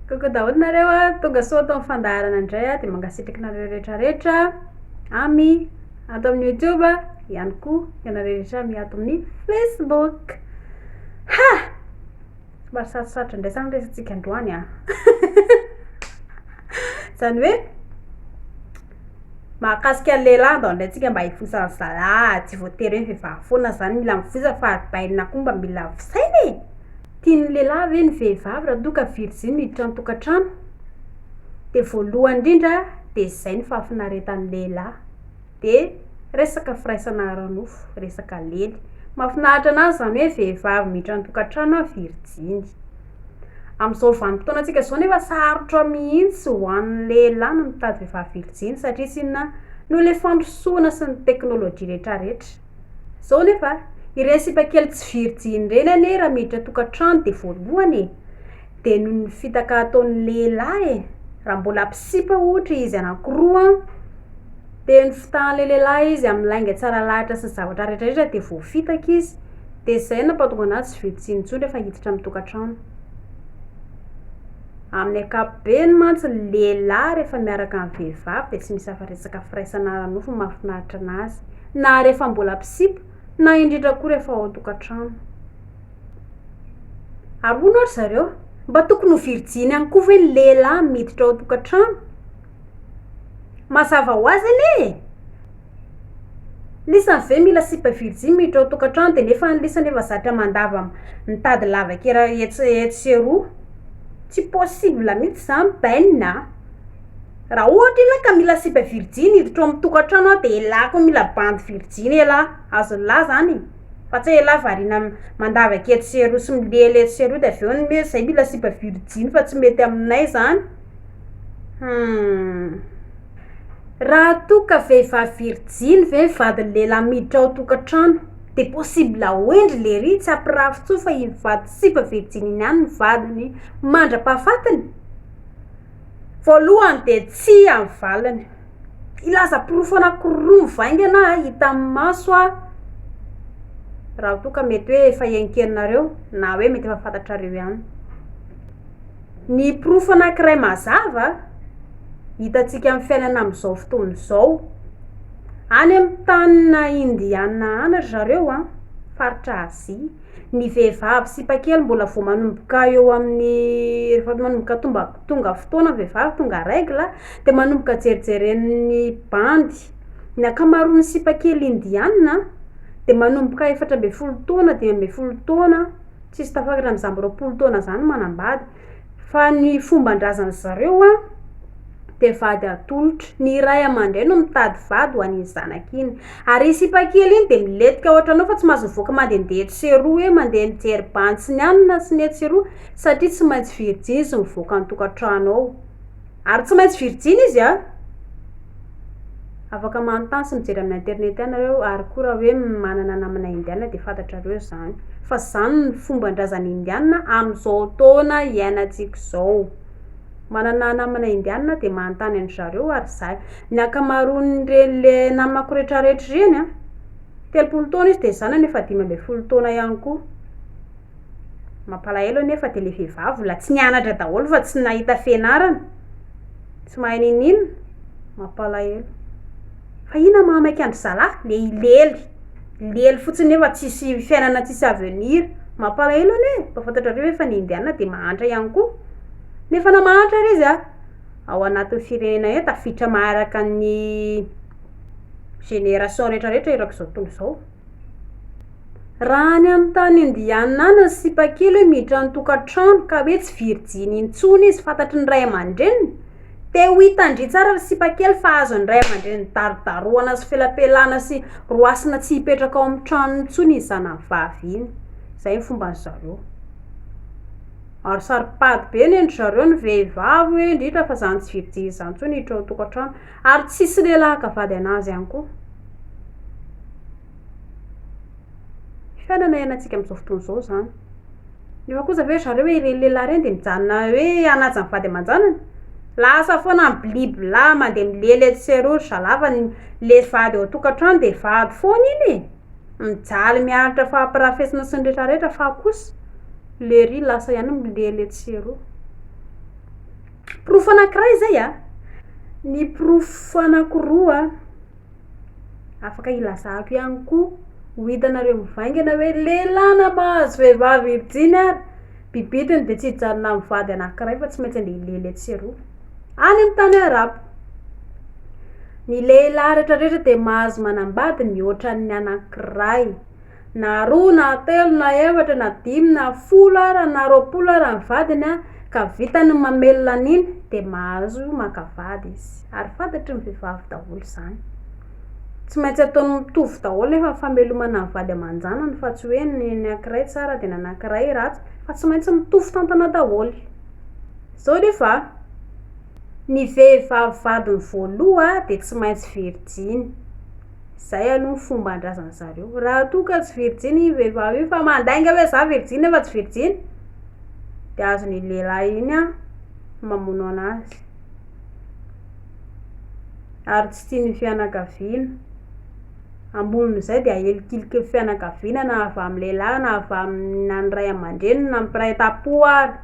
Coucou daholo nareo a, tonga soa ato amin'ny fandaharana indray a, dia mankasitraka anareo rehetra rehetra ami ato amin'ny YouTube ihany koa ianareo rehetra ami ato amin'ny Facebook. Ha! Somary sarosarotra indray zany resatsika androany a. Zany hoe Mahakasika ny lehilahy ndao ndray tsika mba hifosa ny zalahy tsy voatery hoe vehivavy foana zany mila mifosa fa aribaina koa mba mila fisaina e! Tian'ny lehilahy ve ny vehivavy raha toa ka virjiny hiditra ny tokantrano? De voalohany indrindra de izay no fahafinaretan'ny lehilahy de resaka firaisana ara-nofo, resaka lely. Mahafinaritra anazy zany hoe vehivavy miditra ny tokantrano an virjiny. Amin'izao vanim-potoanantsika izao nefa sarotra mihitsy ho an'ny lehilahy ny mitady vehivavy virjiny satria tsy inona noho ilay fandrosoana sy ny teknolojia rehetrarehetra. Izao nefa, ireny sipa kely tsy virjiny ireny anie raha miditra tokantrano dia voalohany e! dia noho ny fitaka ataon'ny lehilahy e! raha mbola mpisipa ohatra izy anankiroa an! dia ny fitahan'ilay lehilahy izy amin'ny lainga tsara lahatra sy ny zavatra rehetrarehetra dia voafitaka izy. Dia izay no nampahatonga an'ahy tsy vitsy tsiny intsony rehefa hiditra amin'ny tokantrano. Amin'ny ankapobeny mantsy ny lehilahy rehefa miaraka amin'ny vehivavy dia tsy misy afa-resaka firaisana ara-nofo no mahafinaritra an'azy, na rehefa mbola mpisipa, na indrindra koa rehefa ao an-tokantrano. Ary hono hoy ry zareo, mba tokony ho virjiny ihany koa ve ny lehilahy miditra ao an-tokantrano? Mazava ho azy anie e! Lisany ve mila sipa virjiny miditra ao tokantrano de nefa ny lisany efa zatra mandava mitady lavakera etsy etsy sy eroa tsy possible mitsy zany bainina a raha ohatra ianao ka mila sipa virjiny hiditra ao amin'ny tokantrano aho de elah koa mila bandy virjiny elah azon'lah zany e fa tsy hoe elah variana mandavaka etsy sy eroa sy milely etsy sy eroa de avy eo ny hoe zay mila sipa virjiny fa tsy mety aminay zany. Humm. Raha toa ka vehivavy virijiny ve ny vadin'ny lehilahy miditra ao an-tokantrano dia possible ho hendry lery tsy hampirafy intsony fa iny vady sipa virijiny iny ihany no vadiny mandra-pahafatiny? Voalohany dia tsia ny valiny. Hilaza porofo anankiroa mivaingana aho hita amin'ny maso aho raha toa ka mety hoe efa henonkenonareo na hoe mety efa fantatrareo ihany. Ny porofo anankiray mazava hitantsika amin'ny fiainana amin'izao fotoana izao, any amin'ny tanina Indiana any ry zareo an, faritra Azia, ny vehivavy sipa kely mbola vao manomboka eo amin'ny rehefa manomboka tomba- tonga fotoana ny vehivavy tonga règle a, dia manomboka jerijeren'ny bandy. Ny ankamaroan'ny sipa kely Indiana dia manomboka efatra ambin'ny folo taona, dimy ambin'ny folo taona. tsisy tafakatra amin'izany roapolo taona izany manambady fa ny fomban-drazan'ny zareo an dia vady atolotro, ny ray aman-dreny no mitady vady ho an'iny zanaka iny, ary iny sipa kely iny dia milentika ohatranao fa tsy maintsy mivoaka mandehandeha etsy sy eroa hoe mandeha mijery bantsy ny any na sinoa etsy sy eroa satria tsy maintsy virjiny izy mivoaka ny tokantrano ao. Ary tsy maintsy virjiny izy an! Afaka manontany sy mijery amin'ny internet any nareo ary koa raha hoe manana namana indiana dia fantatrareo izany fa izany no fomban-drazana indiana amin'izao taona iainantsika izao. Manana namana indiana dia manontany an-dry zareo ary izahay. Ny ankamaroan'ireny le namako retraretra ireny an! Telopolo taona izy dia zanany efa dimy ambin'ny folo taona ihany koa. Mampalahelo anefa dia le vehivavy mbola tsy nianatra daholo fa tsy nahita fianarana, tsy mahay ninoninona, mampalahelo. Fa inona maha maika an-dry zalahy? Le hilely, hilely fotsiny eo fa tsisy fiainana tsisy avenir. Mampalahelo anie e! Mba fantatrareo ve fa ny indiana dia mahantra ihany koa? Nefa na mahantra ary izy an, ao anatin'ny firenena eo tafiditra maharaka ny génération retraretra erak'izao tontolo izao. Raha any amin'ny tany indianina any ny sipa kely hoe miditra ny tokantrano ka hoe tsy virjiny intsony izy fantatry ny ray aman-dreniny, te ho hitan-dry tsara ry sipa kely fa azon'ny ray aman-dreniny darodarohana sy felapelana sy roasina tsy hipetraka ao amin'ny tranony intsony iny zanany vavy iny, izay ny fomban-dry zareo. Ary saro-pady be anie ry zareo ny vehivavy hoe indrindra fa izany tsy virjiny izany intsony hiditra ao an-tokantrano. Ary tsisy lehilahy haka vady anazy ihany koa. Fiainana iainantsika amin'izao fotoana izao izany. Nefa kosa ve ry zareo hoe ireny lehilahy ireny dia mijanona hoe hanaja ny vady aman-janany? Lasa foana ny bilibla, mandeha milely etsy sy eroa ry zalahy fa ny le vady ao an-tokantrano dia vady foana iny e! Mijaly miaritra fampirafesina sy ny retraretra fa kosa le ry lasa ihany milely etsy sy eroa. Porofo anankiray izay an! Ny porofo anankiroa an! Afaka hilazako ihany koa, ho hitanareo mivaingana hoe lehilahy na mahazo vehivavy hirijiny ary, bibitiny dia tsy hijanona amin'ny vady anankiray fa tsy maintsy andeha hilely etsy sy eroa, any amin'ny tany arabo. Ny lehilahy rehetrarehetra dia mahazo manambady mihoatra ny anankiray. Na roa na telo na efatra na dimy na folo ara na roapolo ara ny vadiny an, ka vitany ny mamelona an'iny dia mahazo maka vady izy, ary fantatry ny vehivavy daholo izany, tsy maintsy ataony mitovy daholo nefa ny famelomana ny vady aman-janany fa tsy hoe ny anankiray tsara dia ny anankiray ratsy fa tsy maintsy mitovy tantana daholo, zao nefa an, ny vehivavy vadiny voaloha dia tsy maintsy virjiny. Zay aloha ny fomban-drazan zareo. Raha toa ka tsy virjiny iny vehivavy iny fa mandainga hoe za virjiny nefa tsy virjiny de azony iny lehilahy iny an mamono anazy. Ary tsy tian'ny fianakaviana. Ambonin'izay dia ahilikiliky ny fianakaviana na avy amin'ny lehilahy na avy amina ny ray aman-dreniny na mpiray tam-po ary.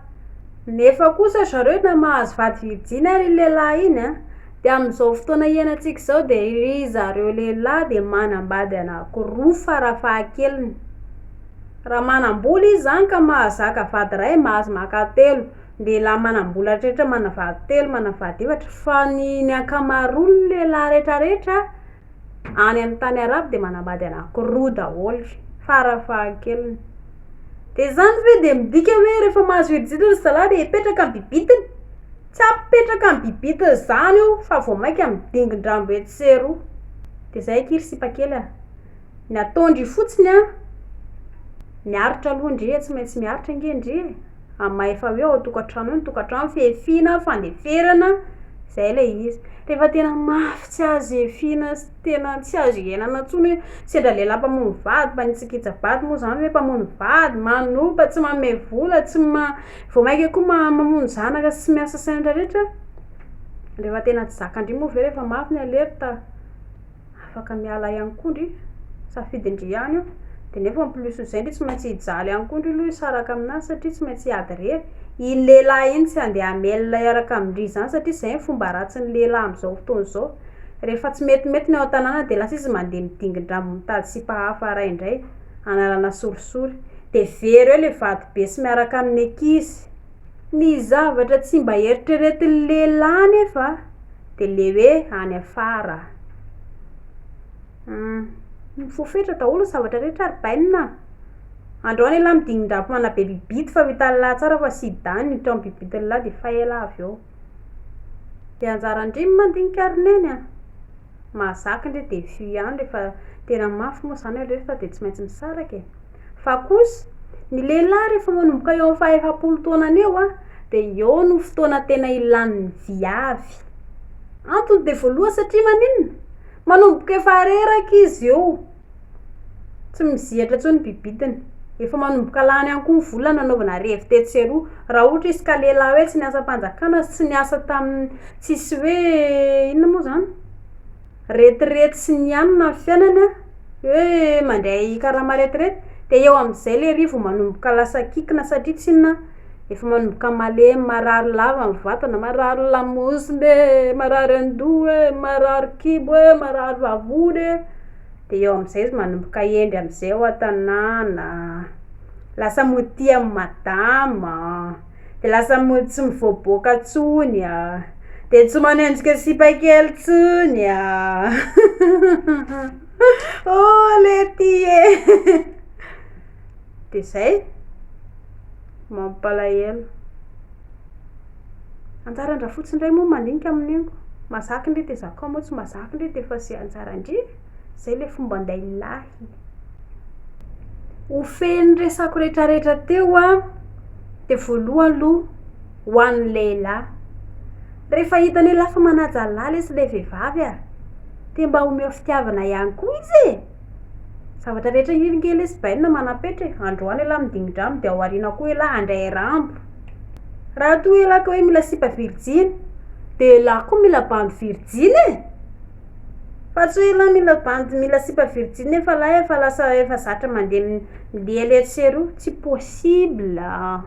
Nefa kosa zareo na mahazo vady virjiny ary iny lehilahy iny an. Dia amin'izao fotoana hiainantsika izao dia ry zareo lehilahy dia manambady anankiroa fara fahakeliny. Raha manam-bola izy izany ka mahazaka vady iray, mahazo maka telo. Ny lehilahy manam-bola rehetra manana vady telo, manana vady efatra. Fa ny ny ankamaroan'ny lehilahy rehetrarehetra any amin'ny tany arabo dia manambady anankiroa daholo fara fahakeliny. Dia izany ve dia midika hoe rehefa mahazo herijiro ry zalahy dia hipetraka amin'ny bibitiny? Tsy apetraka ny bibitiny izany io fa vao mainka midingin-drambo etsy sy eroa. Dia izay akia ry sipa kely a! Ny ataon-dry fotsiny an, miaritra aloha ndry e, tsy maintsy miaritra ange ndry e! Amin'ny maha efa hoe ao an-tokantrano eo ny tokantrano, fihafiana, fandeferana, izay ilay izy. Rehefa tena mafy tsy azo hihafiana, tena tsy azo iainana intsony hoe sendra lehilahy mpamono vady mpanitsakitsa vady moa izany hoe mpamono vady, manopa, tsy manome vola, tsy ma- vao mainka koa ma- mamono zanaka sy miasa sendra rehetra, rehefa tena tsy zakan-dry moa ve rehefa mafy ny alerte, afaka miala ihany koa ndry, safidin-dry ihany io, dia nefa en plus izay ndry tsy maintsy hijaly ihany koa ndry aloha hisaraka amin'azy satria tsy maintsy hiady irery, iny lehilahy iny tsy handeha hamelona hiaraka amin-dry izany satria izay no fomba ratsin'ny lehilahy amin'izao fotoana izao. Rehefa tsy metimety ny ao an-tanàna dia lasa izy mandeha midingin-drambo mitady sipa hafa aray indray hanalana sorisory. Dia very eo ilay vatobe sy miaraka amin'ny ankizy. Ny zavatra tsy mba eritreretin'ny lehilahy anefa dia ilay hoe any afara. Mifoha fetra daholo ny zavatra rehetra ry bainina a! Andao an'ialahy midingin-drambo manabebibity fa ho hitan'ilahy tsara fa sida ny eto amin'ny bibitin'ilahy dia efa ela avy eo. Dia anjaran-dry ny mandinika ary neny a! Mahazaka ndry defi ihany rehefa tena mafy moa izany aloha fa dia tsy maintsy misaraka e! Fa kosa, ny lehilahy rehefa manomboka eo amin'ny faha-efapolo taonany eo an, dia eo no fotoana tena ilan'ny viavy. Antony dia voalohany satria maninona? Manomboka efa reraka izy eo. Tsy mizihatra intsony ny bibitiny. Efa manomboka lany ihany koa ny vola nanaovana revy tetsy sy eroa. Raha ohatra izy ka lehilahy hoe tsy niasa am-panjakana sy tsy niasa tamin'ny tsisy hoe inona moa izany? retirety sy ny ihany na ny fiainany an, hoe mandray karama retirety dia eo amin'izay ilay revy vao manomboka lasa kikina satria tsy inona? Efa manomboka malemy, marary lava ny vatana, marary lamosina e, marary an-doha e, marary kibo e, marary vavony e, de eo amin'izay izy manomboka hendry amin'izay ao an-tanàna, lasa modia amin'ny madama, de lasa mo- tsy mivoaboaka intsony a, de tsy manenjika sipa kely intsony a, oh lety e. De zay! Mampalahelo. Anjaran-drafotsy ndray moa mandinika amin'io. Mahazaka ndry de zakao moa tsy mahazaka ndry de fa ze anjaran-dry. Zay le fomban-dahilahy. Ho feno resako retraretra teo an, de voalohany loha ho an'ny lehilahy. Refa hitany hoe lasa manaja lahy lesy le vehivavy a, de mba omeo fitiavana ihany koa izy e! Zavatra rehetra hiringe lesy bainina manam-petra e! Androany elah midingidrano dia ao aoriana koa elah handray rambo! Raha toa elah ka hoe mila sipa virjiny dia elah koa mila bandy virjiny e! Fa tsy hoe elah mila bandy mila sipa virjiny nefa lahy efa lasa efa zatra mandeha milehilehy etsy sy eroa! Tsy possible a!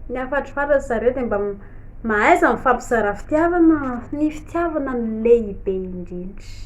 Ny hafatrifatra ry zareo dia mba mahaiza mifampizara fitiavana fa ny fitiavana no lehibe indrindra!